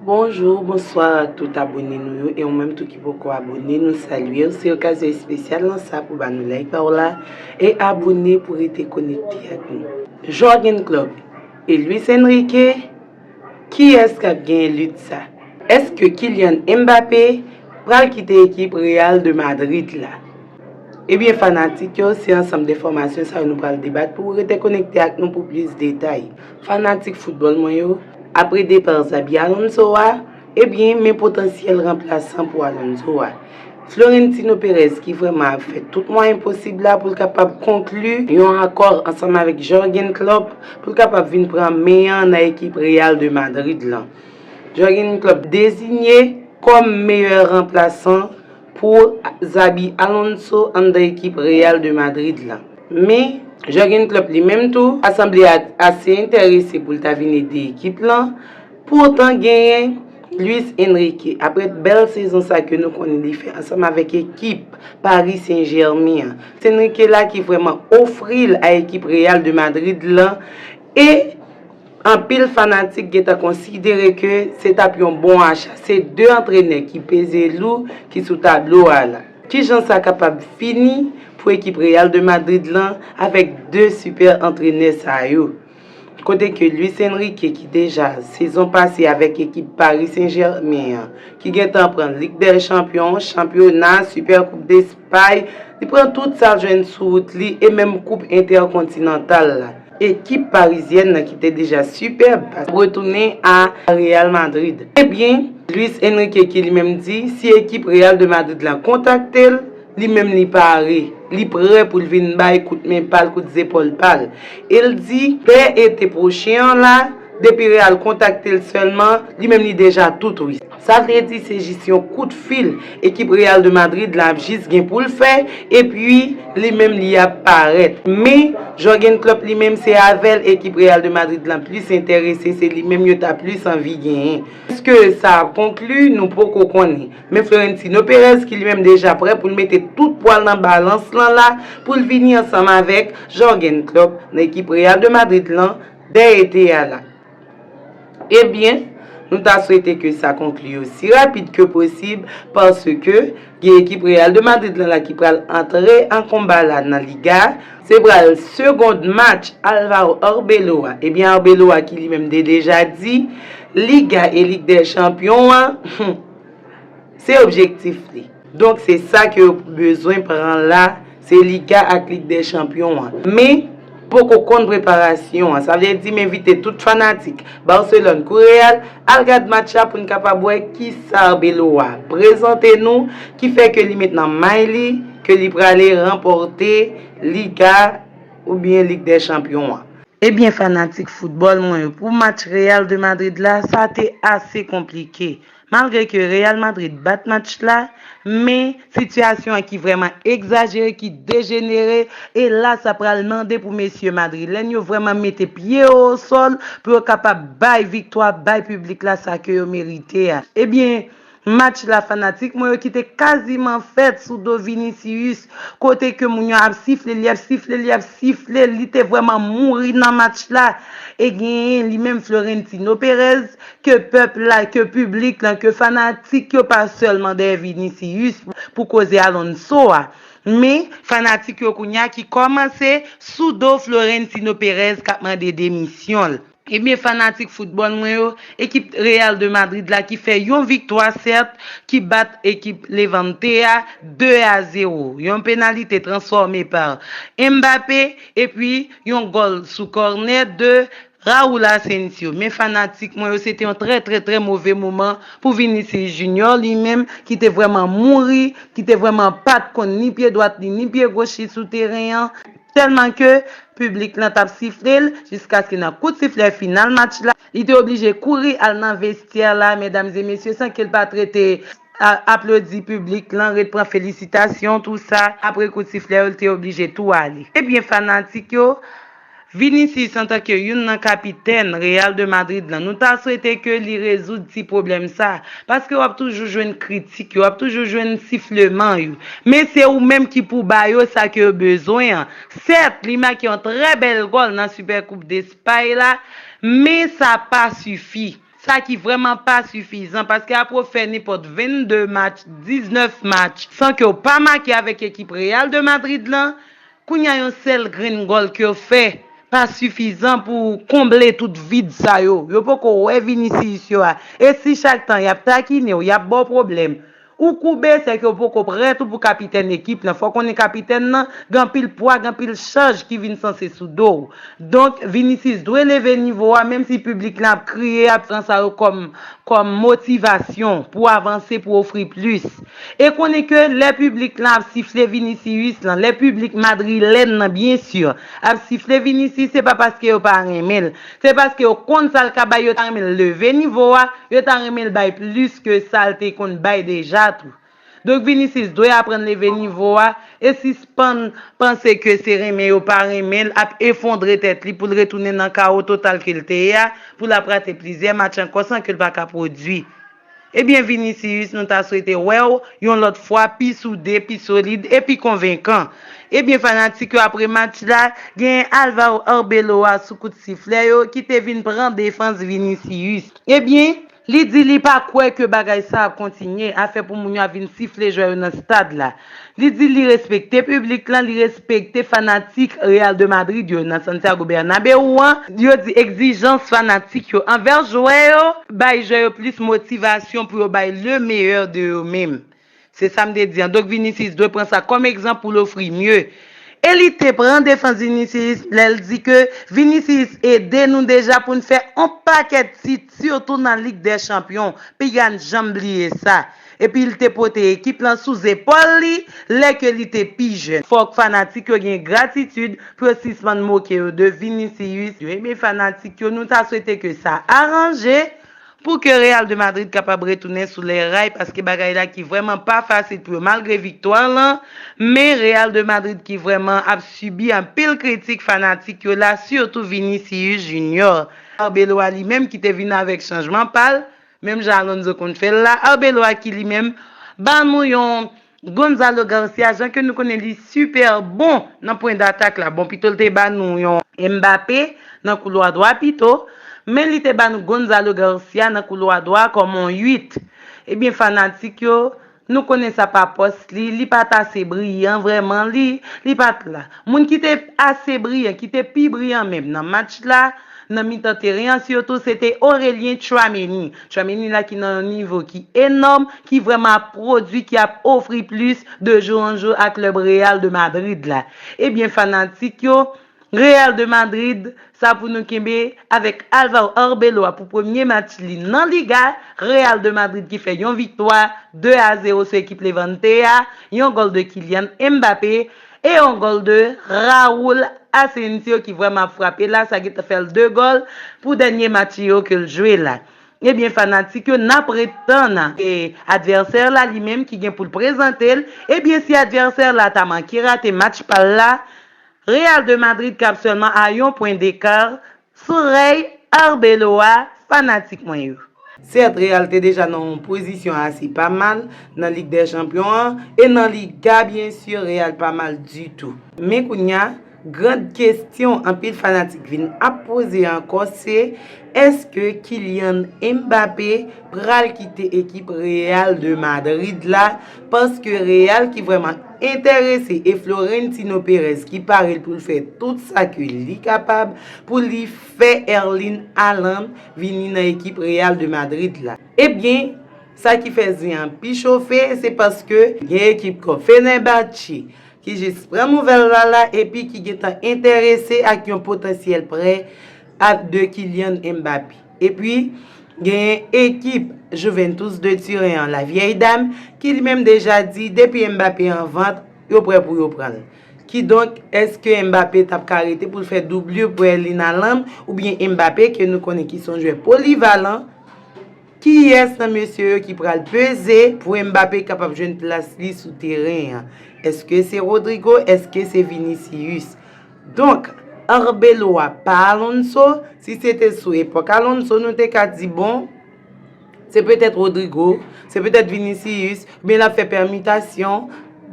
Bonjour, bonsoir ak tout abone nou yo e ou menm tou ki poko abone nou salye ou se okazyon espesyal lan sa pou ba nou like pa ou la e abone pou rete konekte ak nou. Jürgen Klopp e Luis Enrique, kiyès k ap genyen lit sa? Èske Kylian Mbappé pral kite ekip Real de Madrid la? Ebyen fanatik yo se ansanm de enfòmasyon sa yo nou pral debat pou ou rete konekte ak nou pou plis detay. Fanatik foutbòl mwen yo, apre depa Xabi Alonso a, ebyen men potansyèl ranplasan pou Alonso a. Florentino Perez ki vrèman ap fè tout mwayen posib la pou l kapab konkli yon akò ansanm avèk Jurgen Klopp pou l kapab vin pran men an nan ekip Real de Madrid lan. Jurgen Klopp dezinye kòm meyè ranplasan pou Xabi Alonso anndan ekip Real de Madrid la. Men, Jurgen Klopp li menm tou pa sanble ase enterese pou l ta vin ede ekip lan, pou otan genyen Luis Enrique, aprè bèl sezon sa ke nou konnen li fè ansanm avèk ekip Paris Saint Germain an. Se Enrique la ki vrèman ofri l a ekip Real de Madrid lan e. Anpil fanatik gentan konsidere ke se tap yon bon acha, se 2 antrenè ki peze lou ki sou tablo a la. Kijan sa kapab fini pou ekip Real de Madrid lan avèk 2 super antrenè sa yo? Kote ke Luis Enrique ki deja sezon pase avèk ekip Paris Saint Germain an ki gentan pran Lig dè Chanpyon, Chanpyona, Super Koup Despay, li pran tout sal jwenn sou wout li e menm Koup Entèkontinantal la. Ekip parizyèn nan ki te deja sipèb ap retounen a Real Madrid. Ebyen, Luis Enrique ki li menm di si ekip Real de Madrid la kontakte l, li menm li pare, li prè pou l vin bay kout men pa l, kout zepòl pa l. E l di, dè ete pwochen an la, depi Real kontakte l sèlman, li menm li deja tout wi. Sa vle di se jis yon kout fil ekip Real de Madrid la ap jis gen pou l fè epi li menm li ap parèt. Men, Jurgen Klopp li menm se avè l ekip Real de Madrid lan plis enterese, se li menm yo ta plis anvi genyen. Èske sa ap konkli? Nou poko konnen. Men Florentino Perez ki li menm deja prè pou l mete tout pwa l nan balans lan la pou l vini ansanm avèk Jurgen Klopp nan ekip Real de Madrid lan dè ete a la. Ebyen, nou ta swete ke sa konkli osi rapid ke posib paske gen ekip Real de Madrid lan la ki pral antre an konba la nan Liga a. Se pral segond match Alvaro Arbeloa. Ebyen Arbeloa ki li menm te deja di Liga e Lig dè Chanpyon an se objektif li. Donk se sa ke yo bezwen pran la, se Liga ak Lig dè Chanpyon an. Men, poko konn preparasyon an. Sa vle di m envite tout fanatik Barcelone kou Real al gad match la pou n kapab wè kisa Arbeloa prezante nou ki fè ke li met nan may li ke li prale ranpòte Liga oubyen Lig dè Chanpyon an. Ebyen fanatik foutbòl mwen yo, pou match Real de Madrid la, sa te ase konplike. Malgre ke Real Madrid bat match la, men sitiyasyon an ki vrèman egzajere, ki dejenere, e la sa pral mande pou mesye madrilèn yo vrèman mete pye yo o sòl pou yo kapab bay viktwa, bay piblik la sa ke yo merite a. Ebyen, match la fanatik mwen yo ki te kaziman fèt sou do Vinicius, kote ke moun yo ap sifle, li ap sifle, li ap sifle, li te vrèman mouri nan match la, e genyen li menm Florentino Perez, Ke pèp la, ke piblik lan, ke fanatik yo pa sèlman dèyè Vinicius pou koze Alonso a. Men, fanatik yo kounye a ki kòmanse sou do Florentino Perez k ap mande demisyon l. Ebyen fanatik foutbòl mwen yo, ekip Real de Madrid la ki fè yon viktwa sèt, ki bat ekip Levante a 2 a 0. Yon penalite transfòme par Mbappé epi yon gòl sou kònè de Raúl Asensio, Men fanatik mwen yo se te yon trè trè trè move moman pou Vinicius Junior li menm ki te vrèman mouri, ki te vrèman pat konn ni pye dwat li ni pye goch li sou teren an tèlman ke piblik lan tap sifle l jiskaske nan kout siflè final match la li te oblije kouri al nan vestyè la medam e mesye san ke l pat rete aplodi piblik lan ret pran felisitasyon tou sa apre kout siflè yo li te oblije tou ale ebyen fanatik yo Vinicius antanke youn nan kapitèn Real de Madrid lan nou ta swete ke li rezoud ti pwoblèm sa, paske wap toujou jwenn kritik yo, wap toujou jwenn sifleman yo, men se ou menm ki pou ba yo sa ke yo bezwen an, sèt li make yon trè bèl gòl nan Super Coupe d'Espagne la, men sa pa sifi, sa ki vrèman pa sifizan, paske apre w fè nenpòt 22 match, 19 match san ke w pa make avèk ekip Real de Madrid lan, Kounya yon sèl grenn gòl ke yo fè pa sifizan pou konble tout vid sa yo. Yo poko wè Vinicius yo a. E si chak tan yap takinew, yap baw pwoblèm, ou koube se ke ou poko prè tou pou kapitèn ekip lan. Fòw konnen kapitèn lan gen anpil pwa, gen anpil chaj ki vin sanse sou dow. Donk Vinicius dwe leve nivo a menm si piblik lan ap kriye, ap pran sa yo kòm motivasyon pou avanse, pou ofri plis. E konnen ke lè piblik lan ap sifle Vinicius lan, lè piblik madrilèn lan byen sur ap sifle Vinicius se pa paske yo pa renmen l, se paske yo konn sa l ka bay yo ta renmen l leve nivo a, yo ta renmen l bay plis ke sa l te konn bay deja tou. Donk Vinicius dwe aprann leve nivo a e sispann panse ke se renmen yo pa renmen l ap efondre tèt li pou l retounen nan kawo total ke l te ye a, pou l ap rate plizyè match ankò san ke l pa ka pwodui. Ebyen Vinicius nou ta swete wèw yon lòt fwa pi soude, pi solid e pi konvenkan. Ebyen fanatik yo apre match la genyen Alvaro Arbeloa sou kout siflè yo ki te vin pran defans Vinicius. Ebyen li di li pa kwè ke bagay sa ap kontinye, afè pou moun yo ap vin sifle jwè yo nan stad la. Li di li respekte piblik lan, li respekte fanatik Real de Madrid yo nan Santiago Bernabeu an. Yo di egzijans fanatik yo anvè jwè yo bay jwè yo plis motivasyon pou yo bay le meilleur de yo menm. Se sa m te di an. Donk Vinicius dwe pran sa kòm egzanp pou l ofri mye. E li te pran defans Vinicius lè l di ke Vinicius ede nou deja pou n fè on pakèt tit. Sitou nan Lig dè Chanpyon, pi gann janm bliye sa. Epi li te pote ekip lan sou zepòl li lè ke li te pi jèn. Fòk fanatik yo gen gratitid pou yo sispann moke yo de Vinicius. Yo eme fanatik yo, nou ta swete ke sa aranje pou ke Real de Madrid kapab retounen sou lè ray paske bagay la ki vrèman pa fasil pou yo malgre viktwa lan, men Real de Madrid ki vrèman ap sibi anpil kritik fanatik yo la sitou Vinicius Junior. Arbeloa li menm ki te vin avèk chanjman pa l, menm jan Alonso konn fè l la, Arbeloa ki li menm ba nou yon Gonzalo Garcia jan ke nou konnen li sipè bon nan pwen datak la, bon pito l te ba nou yon Mbappé nan koulwa dwa pito, men li te ba nou Gonzalo Garcia nan koulwa dwa kòm yon 8, ebyen fanatik yo Nou konnen sa pa pòs li, li pa t ase briyan vrèman, li, li pa t la. Moun ki te ase briyan, ki te pi briyan menm nan match la, nan mitan teren an sitou, se te Aurelien Tchouaméni. Tchouaméni la ki nan yon nivo ki enòm, ki vrèman ap pwodui, ki ap ofri plis de jou an jou a klèb Real de Madrid la. Ebyen fanatik yo. Real de Madrid sa pou nou kenbe avèk Alvaro Arbeloa pou premye match li nan Liga, Real de Madrid ki fè yon viktwa 2 a 0 sou ekip Levante a, yon gòl de Kylian Mbappé e yon gòl de Raul Asensio ki vrèman ap frape la, sa gentan fè l 2 gòl pou dènye match yo ke l jwe la. Ebyen fanatik yo nap ret tann advèsè la li menm ki gen pou l prezante l, ebyen si advèsè la ta manke rate match pa l la, Real de Madrid kap sèlman a yon pwen dekar sou rèy Arbeloa fanatik mwen yo. Sèt, Real te deja nan yon pozisyon ase pa mal nan Lig dè Chanpyon an e nan Liga byen sur Real pa mal ditou. Men kounya, grand kestyon anpil fanatik vin ap poze ankò se, èske Kylian Mbappé pral kite ekip Real de Madrid la Paske Real ki vrèman enterese e Florentino Perez ki pare l pou l fè tout sa ke li kapab pou li fè Erling Haaland vini nan ekip Real de Madrid la. Ebyen, sa ki fè zen an pi chofe se paske gen ekip kon Fenerbahçe ki jis pran nouvèl la la epi ki gentan enterese ak yon potansyèl prè de Kylian Mbappé. Epi, genyen ekip Juventus de Turen an, La Vieille Dame, ki li menm deja di depi Mbappé an vant, yo prè pou yo pran l. Kidonk, èske Mbappé t ap ka rete pou l fè doublure pou Erling Haaland oubyen Mbappé ke nou konnen ki se yon jwè polivalan? Kiyès nan mesye yo ki pral peze pou Mbappé kapab jwenn plas li sou teren an? Èske se Rodrygo? Èske se Vinicius? Donk, Arbeloa pa Alonso, si se te sou epòk Alonso nou te ka di bon, se petèt Rodrygo, se petèt Vinicius, oubyen l ap fè pèmitasyon,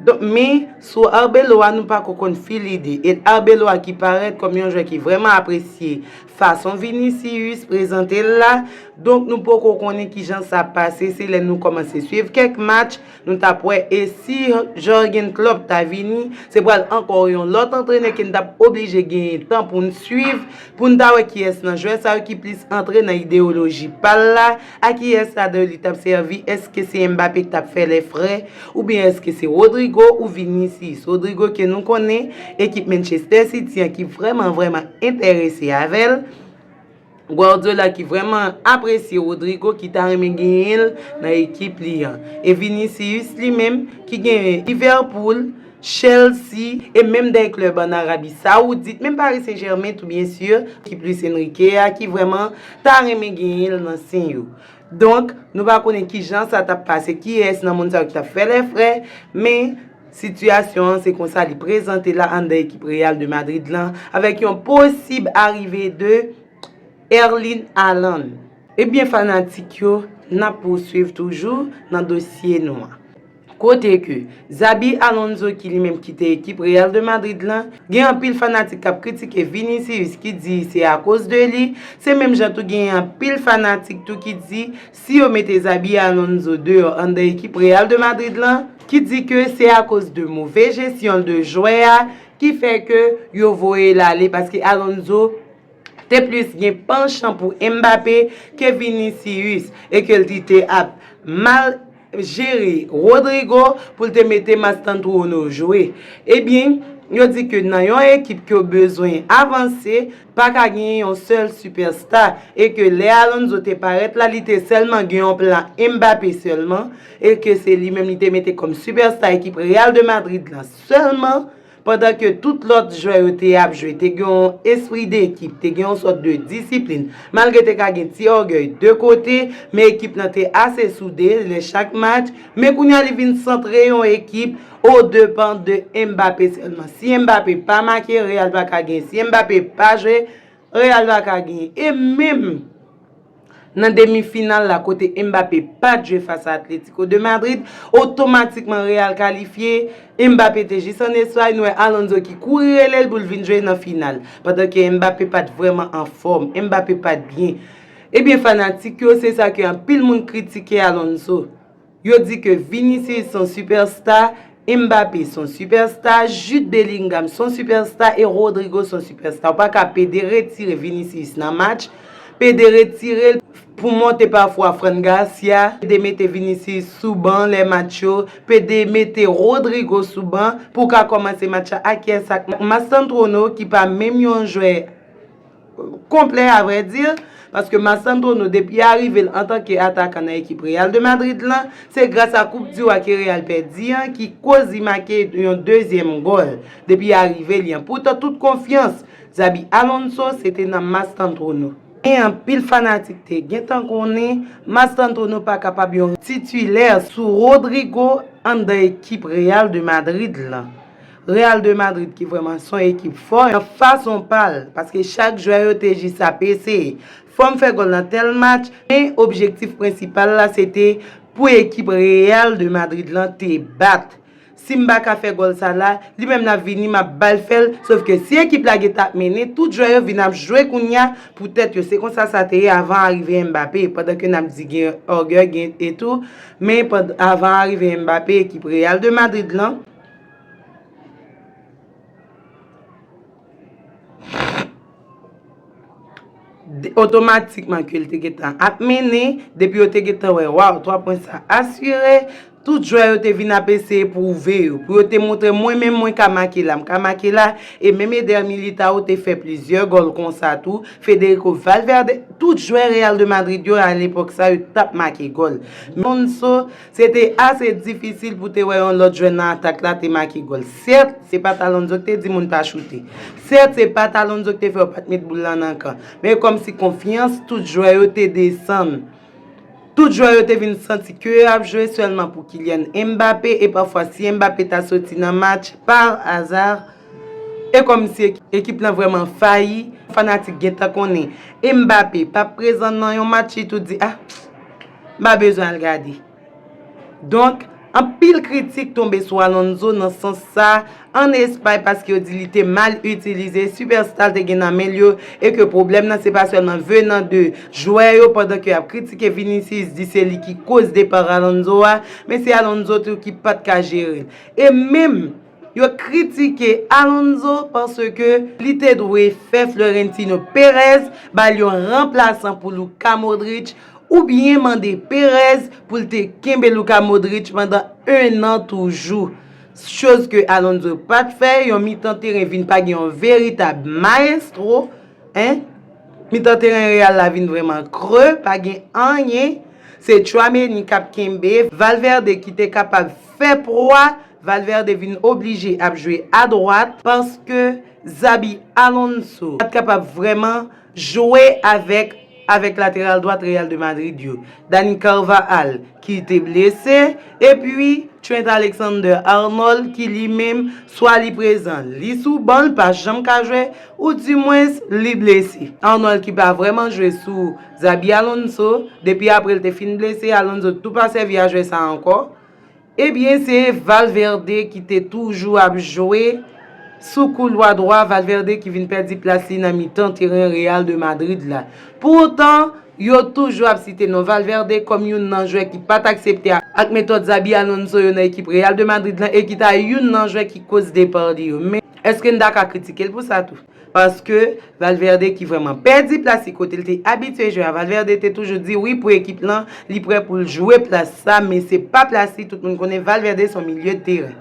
donk men sou Arbeloa nou pako konn fil ide, et Arbeloa ki parèt kòm yon jwè ki vrèman apresye fason Vinicius prezante l la, donk nou poko konnen kijan sa pase, se lè nou kòmanse swiv kèk match, Nou tap wè e si Jurgen Klopp ta vini, se pral ankò yon lòt antrenè ke n tap oblije genyen tan pou n swiv, pou n ta wè kiyès nan jwè sa yo ki plis antre nan ideyoloji pa l la, a kiyès ladè li tap sèvi, èske se Mbappé k tap fè lè fre, oubyen èske se Rodrygo ou Vinicius. Rodrygo ke nou konnen ekip Manchester City an ki vrèman vrèman enterese avè l. Guardiola ki vrèman apresye Rodrygo ki ta renmen genyen l nan ekip li an. E Vinicius li menm ki genyen Liverpool, Chelsea e menm dè klèb an Arabi Saoudit, menm Paris Saint Germain tou byen sur, ekip Luis Enrique a ki vrèman ta renmen genyen l nan sen yo. Donk, nou pa konnen kijan sa t ap pase, kiyès nan moun sa yo ki t ap fè lè frè, men. Sitiyasyon an se konsa li prezante la anndan ekip Real de Madrid lan avèk yon posib arive de Erling Haaland. Ebyen fanatik yo, nap pouswiv toujou nan dosye nou an. Kote ke Xabi Alonso ki li menm kite ekip Real de Madrid lan, gen anpil fanatik kap kritike Vinicius ki di se akoz de li, se menm jan tou genyen anpil fanatik tou ki di si yo mete Xabi Alonso deyò anndan ekip Real de Madrid lan ki di ke se akoz de move jesyon l de jwè a ki fè ke yo voye l ale paske Alonso te plis gen panchan pou Mbappé ke Vinicius e ke l te ap mal jere Rodrygo pou l te mete Mastantuono jwe ebyen yo di ke nan yon ekip ke w bezwen avanse Pa ka genyen yon sèl sipèsta e ke lè Alonso te parèt la li te sèlman gen yon plan Mbappé sèlman e ke se li menm li te mete kòm sipèsta ekip Real de Madrid la sèlman pandan ke tout lòt jwè yo te ap jwe te gen yon espri dekip, te gen yon sòt de disiplin malgre te ka gen ti ògèy de kote men ekip lan te ase soude lè chak match men kounya li vin santre yon ekip O depan de Mbappé sèlman. Si Mbappé pa make, Real pa ka genyen. Si Mbappé pa jwe, Real pa ka genyen. E menm nan demi final la kote Mbappé pat jwe fas a Atlético de Madrid, otomatikman Real kalifye, Mbappé te jis an Espay, nou wè Alonso ki kouri rele l pou l vin jwe nan final. Pandan ke Mbappé pat vrèman an fòm, Mbappé pat byen. Ebyen fanatik yo se sa ke anpil moun kritike Alonso. Yo di ke Vinicius son superstar, Mbappé son superstar, Jude Bellingham son superstar e Rodrygo son superstar. Ou pa ka pede retire Vinicius nan match, pede retire l pou monte pafwa Fran Garcia, pede mete Vinicius sou ban lè match yo, pede mete Rodrygo sou ban pou w ka kòmanse match la ak pyès ak Mastantuono ki pa menm yon jwè. konplè a vrè di, paske Mastantono depi arive l antanke atakan nan ekip Real de Madrid lan, se gras a koup diw a ke Real pèdi an ki koz li make yon dezyèm gòl depi arive li an. Poutan tout konfyans Xabi Alonso se te nan Mastantono. Men anpil fanatik te gentan konnen Mastantono pa kapab yon titilè sou Rodrygo anndan ekip Real de Madrid lan. Real de Madrid ki vrèman son ekip fò nan fason pa l paske chak jwè yo te jis ap eseye fòm fè gòl nan tèl match men objektif prensipal la se te pou ekip Real de Madrid lan te bat si m pa ka fè gòl sa la li menm l ap vini m ap ba l fè l sof ke si ekip la gen tan ap mennen tout jwè yo vin ap jwe kounya pou tèt yo se konsa sa te ye avan arive Mbappé pandan ke n ap di gen orgueil gen etou men avan arive Mbappé ekip Real de Madrid lan Otomatikman ke l te gen tan ap mennen, depi yo te gen tan wè, waw, 3 pwen sa asire, tout jwè yo te vin ap eseye pwouve yo, pou yo te montre mwen menm mwen ka make la, m ka make la, e menm Eder Militao te fè plizyè gòl konsa tou, Federico Valverde, tout jwè Real de Madrid yo a lepòk sa yo t ap make gòl. Se te ase difisil pou te wè yon lòt jwè nan atak la te make gòl. Sèt, se pa t Alonso k te di moun pa choute. Sèt, se pa t Alonso k te fè yo pa t met boul lan nan kan. Men kòmsi konfyans tout jwè yo te desann. Tout jwè yo te vin santi ke yo ap jwe sèlman pou Kylian Mbappé e pafwa si Mbappé ta soti nan match, par hasard, E kòmsi ekip lan vrèman fayi, fanatik gentan konnen Mbappé pap prezan nan yon match li tout di ah m pa bezwen al gade. Donk anpil kritik tonbe sou Alonso nan sans sa an Espay paske yo di li te mal itilize sipèsta l te gen nan men l yo e ke pwoblèm lan se pa sèlman venan de jwè yo pandan ke y ap kritike Vinicius di se li ki koz depar Alonso a men se Alonso tou ki pat ka jere l e menm Yo kritike Alonso paske li te dwe fè Florentino Perez ba l yon ranplasan pou Luka Modric oubyen mande Perez pou l te kenbe Luka Modric pandan 1 an toujou. Choz ke Alonso pa t fè, yon mitan teren vin pa gen yon veritab maestro, 1 mitan teren Real la vin vrèman kre, pa gen anyen, se Tchouaméni k ap kenbe, Valverde ki te kapab fè pwa, Valverde vin oblije ap jwe adwat paske Xabi Alonso pat kapab vrèman jwe avèk avèk lateral dwat Real de Madrid yo, Dani Carvajal ki te blese epi Trent Alexander-Arnold ki li menm swa li prezan li sou ban li pa janm ka jwe ou di mwens li blese. Arnold ki pa vrèman jwe sou Xabi Alonso depi apre li te fin blese, Alonso tou pa sèvi a jwè sa ankò. Ebyen se Valverde ki te toujou ap jwe sou koulwa dwa, Valverde ki vin pèdi plas li nan mitan teren Real de Madrid la. Pou otan, yo toujou ap site non Valverde kòm youn nan jwè ki pat aksepte ak metòd Xabi Alonso yo nan ekip Real de Madrid lan e ki ta youn nan jwè ki koz depa li yo. Men, èske n ta ka kritike l pou sa tou? Paske Valverde ki vrèman pèdi plas li kote li te abitye jwe a Valverde te toujou di wi pou ekip lan li prè pou l jwe plas sa men se pa plas li tout moun konnen Valverde son milye de teren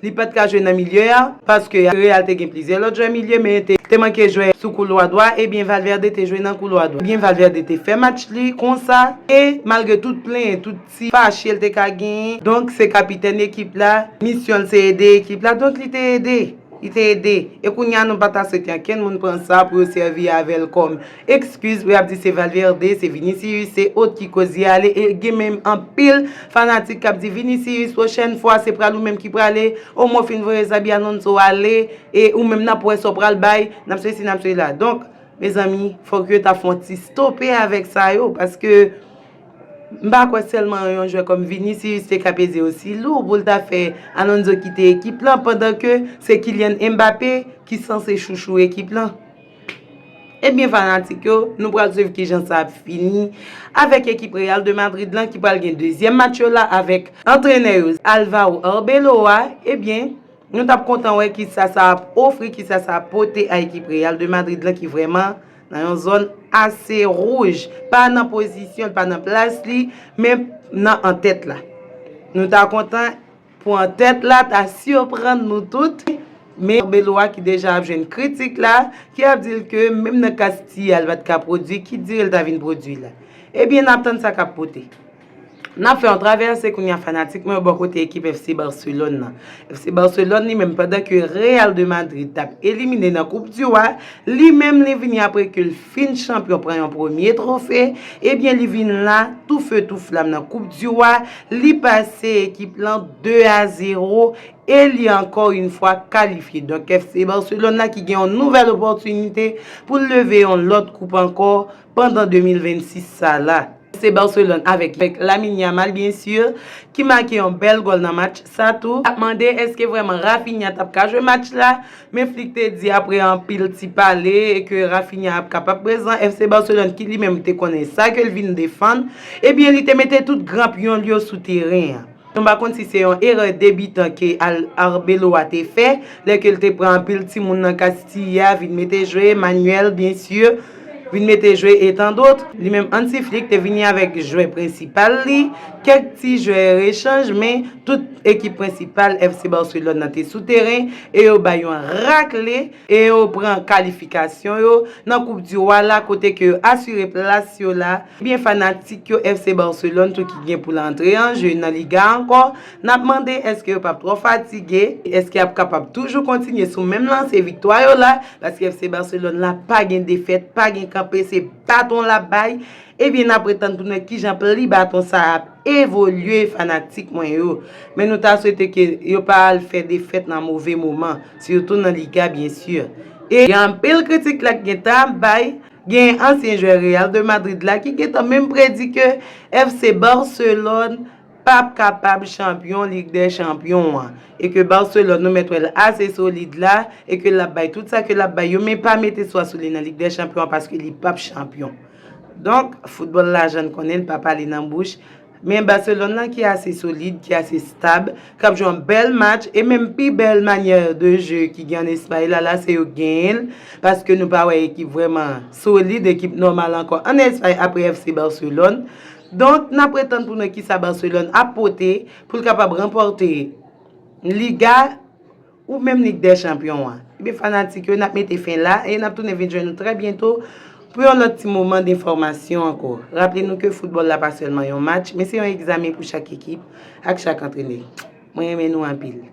li pat ka jwe nan milye a paske Real te gen plizyè lòt jwè milye men te manke jwè sou koulwa dwa ebyen Valverde te jwe nan koulwa dwa ebyen Valverde te fè match li konsa e malgre tout plenyen tout Si fache l te ka genyen. Donk se kapitèn ekip la, misyon l se ede ekip la, donk li te ede. Li te ede. E kounye a nou pa ta swete ankenn moun pran sa pou yo sèvi avè l kòm ekskiz pou y ap di se Valverde, se Vinicius, se ot ki koz li ale e gen menm anpil fanatik k ap di Vinicius pwochèn fwa se pral ou menm ki prale, omenm w fin voye Xabi Alonso ale e ou menm n ap wè sa w pral bay, n ap sesi n ap sela. Donk mezanmi fòk yo ta fon ti stope avèk sa yo paske. M pa kwè sèlman yon jwè kòm Vinicius te ka peze osi lou pou l ta fè Alonso kite ekip lan pandan ke se Kylian Mbappé ki sanse chouchou ekip lan. Ebyen fanatik yo, nou pral swiv kijan sa ap fini avèk ekip Real de Madrid lan ki pral gen dezyèm match yo la avèk antrenè yo Alvaro Arbeloa, ebyen nou t ap kontan wè kisa sa ap ofri, kisa sa ap pote a ekip Real de Madrid lan ki vrèman. Nan yon zòn ase rouj, pa nan pozisyon l, pa nan plas li, men nan antèt la. Nou ta kontan pou antèt la ta sirprann nou tout, men Belo a ki deja ap jwenn kritik la, ki ap di l ke menm nan Kastiyal pat ka pwodwi, ki dire l ta vin pwodwi la. Ebyen n ap tann sa k ap pote. Nap fè yon travèse kounya fanatik mwen yo bò kote ekip FC Barcelone nan. FC Barcelone li menm pandan ke Real de Madrid tap elimine nan koup du Roi, li menm li vini apre ke l fin chanpyon pran yon premye trofe, ebyen li vin la tou feu tou flam nan koup du Roi, li pase ekip lan 2 a 0 e li ankò yn fwa kalifye. Donk FC Barcelone la ki gen yon nouvèl opòtinite pou l leve yon lòt koup ankò. pandan 2026 sa la. Se Barcelone avèk Lamine Yamal bien sûr ki make yon bèl gòl nan match sa tou. Ap mande eske vrèman Raphinha tap ka jwe match la, men Flick te di aprè anpil ti pale ke Raphinha ap kapab prezan. FC Barcelone ki li menm te konnen sa ke l vin defann, ebyen li te mete tout gran pyon l yo sou teren an. Nou pa konn si se yon erè debitan ke Al Arbeloa te fè, lè ke l te pran anpil timoun nan Castilla vin mete jwe, Manuel, bien sûr, vin mete jwe e tan dot. Li menm Hansi Flick te vini avèk jwè prensipal li, kèk ti jwè rechanj men tout ekip prensipal FC Barcelone nan te sou teren e yo bay yon rakle e yo pran kalifikasyon yo nan koup di Roi la kote ke yo asire plas yo la, ebyen fanatik yo FC Barcelone tou ki gen pou l antre an je nan Liga ankò, n ap mande èske yo p ap twò fatige, èske y ap kapab toujou kontinye sou menm lanse viktwa yo la, paske FC Barcelone la pa gen defèt, pa gen kanpe, se baton l ap bay, ebyen n ap ret tann pou nou wè kijan pri baton sa a ap evolye fanatik mwen yo, men nou ta swete ke yo pa al fè defèt nan move moman. Surtout nan Liga bien sûr. E gen anpil kritik la k gentan ap bay, genyen ansyen jwè Real de Madrid la ki gentan menm predi ke FC Barcelone pap kapab chanpyon Lig dè Chanpyon an, e ke Barcelone nou mèt wè l ase solid la, e ke l ap bay tout sa ke l ap bay yo, men pa mete swa sou li nan Lig dè Chanpyon an paske li pap chanpyon. Donk, foutbòl lajan n konnen l pa pale nan bouch, Men Barcelone lan ki ase solid, ki ase stab, k ap jwe yon bèl match e menm pi bèl manyè de je ki gen ann Espay la, la se yo k genyen l, paske nou pa wè ekip vrèman solid, ekip nòmal ankò ann Espay apre FC Barcelone. Donk, n ap ret tann pou n wè kisa Barcelone ap pote pou l kapab ranpòte Liga. Ou menm Lig dè Chanpyon an. Ebyen fanatik yo, n ap mete fen la e n ap tounen vin jwenn ou trè byento pou yon lòt ti moman denfòmasyon ankò. Raple nou ke foutbòl la pa sèlman yon match, men se yon egzamen pou chak ekip ak chak antrenè. Mwen renmen nou anpil.